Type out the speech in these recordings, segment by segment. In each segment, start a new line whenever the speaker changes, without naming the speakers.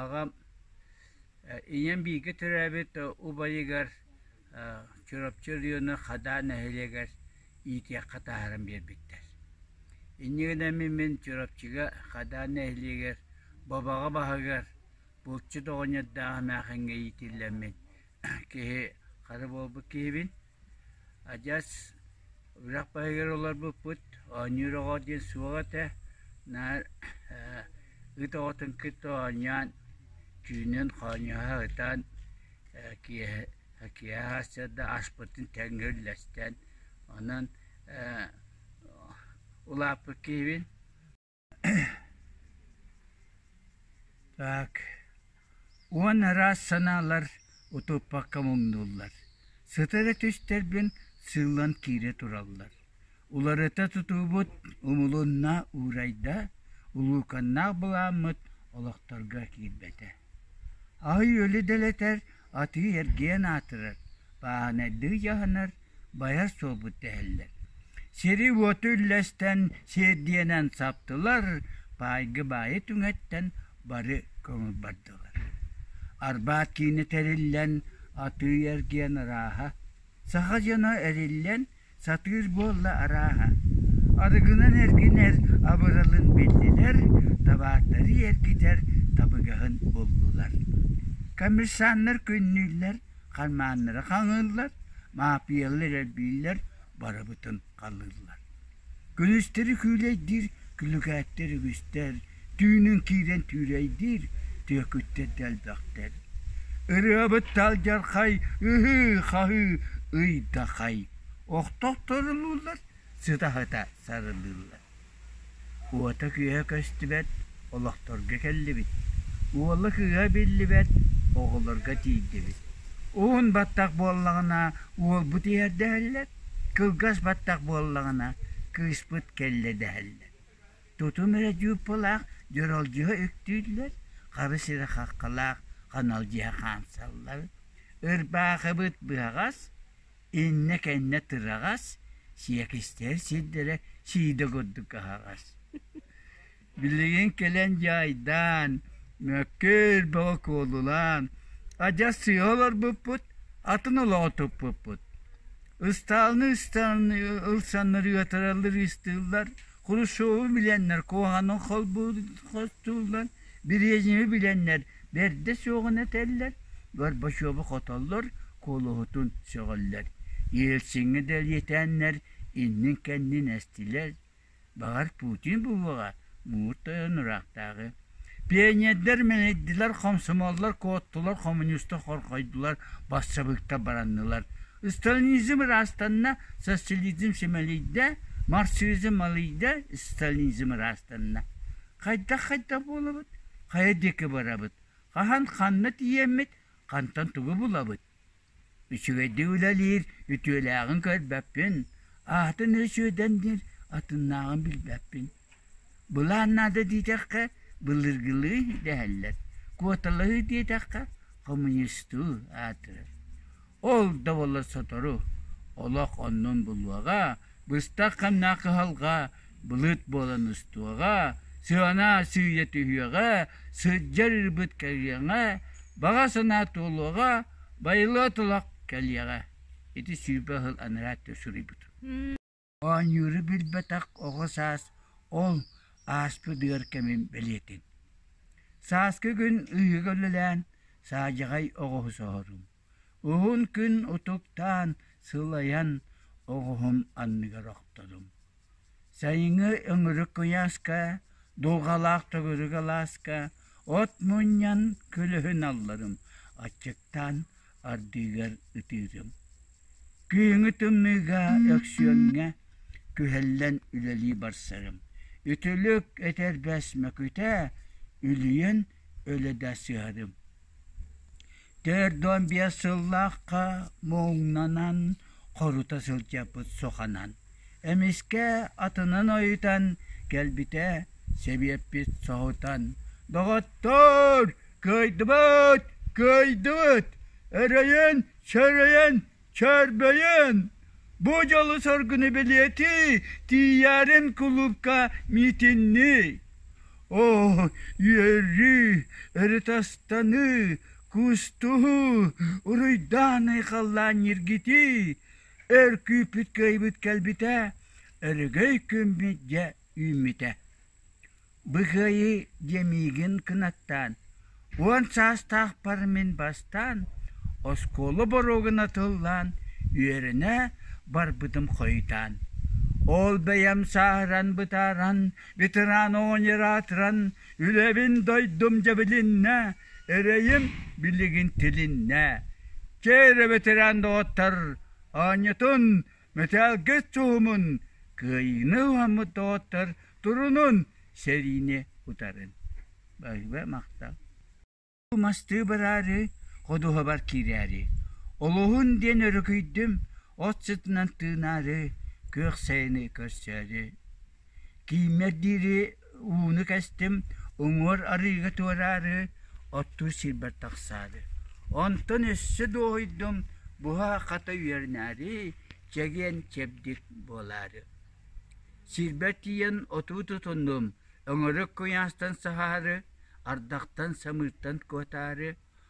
Аҕам ийэм бииргэ төрөөбүт убайыгар Чурапчы Өлүөнэ Хадаа нэһилиэгэр иитиэххэ таһааран биэрбиттэр. Иннигинэ мин мин Чурапчыга Хадаа нэһилиэгэр Бобаҕа баһыгар булчут оҕонньордоох эмээхиҥҥэ иитиллэммин киһи хара буолбут киһибин. Адьас үрэх баһыгар олорбуппут оонньуур оҕо диэн суох этэ, наар ээ ыт оҕотун кытта оонньоон, түүнүн хоонньоһо сытан ээ киэһэ киэһэ хааччарда аспытын тэҥҥэ үллэстэн онон ээ улааппыт киһибин. Так, уон араас санаалар утуппакка муҥнууллар, сытара түстэрбин сыыллан киирэ тураллар. Уларыта тутуубут умулунна уурайда, улууканнаах былааммыт олохторго киирбэтэ. Аһы-үөлү дэлэтэр атыы-эргиэн аатырар, бааһынайдыы дьаһанар, байар суолбут дэһэллэр. Сири-уоту үллэстэн сиэрдийэнэн саптылар, баайгы-баайы түҥэттэн бары көҥүл бардылар. Арбаат киинэ тэриллэн, атыы-эргиэн ырааһа. Саха дьоно эриллэн, сатыыр буолла арааһа. Арыгынан эргинэр абыралын биллилэр, табаардары эргитэр табыгаһын буллулар. Коммерсаннар күннүүллэр, хармааннара хаҥыыллар, маапыйалар элбииллэр, барыбытын халлыыллар. Күнүстэри күүлэйдиир күлүкээттэр үгүстэр, түүнүн киирэн түүрэйдиир түөкүттэр да элбэхтэр ырыабыт талдьархай ыһыы-хаһыы ыйдахай охтохторулууллар сытаһыта сарылыыллар уота кыыһа көстүбэт олохторго кэллибит уола кыыһа биллибэт оҕолорго тиийдибит уун баттах буоллаҕына уолбут иһэрдэһэллэр кылгас баттах буоллаҕына кыыспыт кэллэ дэһэллэр Тутум эрэ дьууппулаах дьоролдьуһа үктүүллэр, хара сирэ хаххалаах ханалдьыһа хаамсаллар, ырбаахыбыт быһаҕас, иннэ-кэннэ тыраҕас, сиэкистээр сирдэрэ сиидэ курдук аһаҕас. Билигин кэлэн дьаайдаан, мөккүөр бөҕө куолулаан, адьас сыыһа олорбуппут, атын олоҕу туппуппут. Ыстаалыны ыстаалыны ылсаннар ыатараллар ыыстыыллар, Хрущеву билэннэр куһаҕаны холбууллан, Березины билэннэр бэрдэ суоҕун этэллэр, Горбачеву хотоллор, куолуһутун сөҕөллөр. Ельциҥҥэ дэлиэтээннэр иннин-кэннин эстилэр. Баҕар, Путин буваҕа муҥур тойон ыраахтааҕы Пионердар мэнэйдилэр, комсомоллар, куоттулар, коммунистар хорхойдулар, бассабыыктар бараннылар. Сталинизм ыраастанна, социализм симэлийдэ, марксизм малыйда, сталинизм ыраастанна. Хайдах-хайдах буолабыт? Хайа диэки барабыт? Хаһан ханна тиийэммит? Хантан тугу булабыт? Үчүгэйдик үлэлиир, үтүөлээҕин көрбөппүн, аатын Өсүөдэн диир атыннааҕын билбэппин. Былаан наада диэтэххэ, былыргылыы дэһэллэр, куоталаһыы диэтэххэ, хомуньуустуу аатырар. Ол да буоллар сотору, олох оннун булуоҕа, Быстах-хамнаах кыһалҕа былыт буолан устуоҕа, сыана-сыыйа түһүөҕэ, сылдьар ырбыт кэлиэҕэ, баҕа санаа туолуоҕа, байылыы олох кэлиэҕэ. Ити сүүрбэ сыл анараа суруйбутум. Оонньууру билбэтэх оҕо саас ол ааспыт ыар кэмин бэлиэтин. Сааскы күн ыйыга үлэлээн, саадьаҕай оҕоһу соһорум. Уһун күн утуктаан, сылайан, оҕуһум анныгар охтодум. Сайыҥҥы өҥүрүк куйааска, дулҕалаах төгүрүк алааска от мунньан күлүһүн алларым, аччыктаан ардыгар ытыырым. Күyүҥү тымныыга Өксүөҥҥэ күһэллэн үлэлии барсарым. Үтүлүк, этэрбэс Мөкүтэ үлүйэн өлө сыһарым Төрдүөн биэс сыллаахха муҥнанан хорута сылдьарбыт суханан эмискэ атынын ойутан кэлбитэ сэбиэппит соһутан «Доҕоттоор, кыайдыбыт, кыайдыбыт! Эрэйэн, сэрэйэн Чөрбөйүн, бу дьолу соргуну билиэти тиийэрин кулуупка миитиннии. Оо, үөрүү, ырытастаныы, кустуһуу, уруйдааны халлаан ньиргитии, өр күүппүт кыайбыт кэлбитэ, өрөгөй күммүт дьэ үүммүтэ. Бу кыайыы диэ миигин кынаттаан, уон саастаахпар мин бастаан оскуола боруогуна тыллаан үөрэнэ барбытым хойутаан, ол бэйэм сааһыран бытааран, ветеран-оонньуу аатыран, үлэбин дойдум дьэбилиннэ, эрэйим билигин тилиннэ. Чэ эрэ, ветеран доҕоттор, оонньутун мэтээлгэ суумун кыайыыны уһаммыт доҕоттор турунун сэриини утарын баһыба махтал мастыы бараары ходуһабар киирээри олоһун диэн өрүкүйдүм от сытынан тыынаары күөх сайыны көрсөөрү Кииммэр диэри ууну кэстим, уҥуор арыыга туораары, оттуур сирбэр тахсаары. Онтон өссө дуоһуйдум, буһа хата үөрэнээри, чэгиэн чэбдик буолаары. Сирбэр тиийэн отуу тутуннум, өҥөрүк куйаастан саһаары, ардахтан самыыртан куотаары,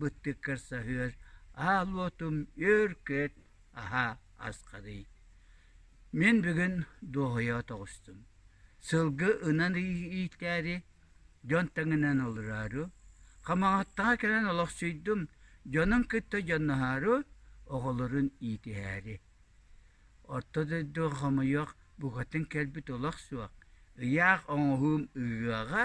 быттык көрсөһүөр аал уотум үөр-күөт аһаа асхадый мин бүгүн дуоһуйа тоҕустум сылгы ынан иитээри дьон таҥынан олороору хамаҕаттаҕа кэлэн олохсуйдум дьонун кытта дьонноһоору оҕолорун иитиһээри орто дойду хомойуох букатын кэлбит олох суох ыйаах оҥоһуум ыһыаҕа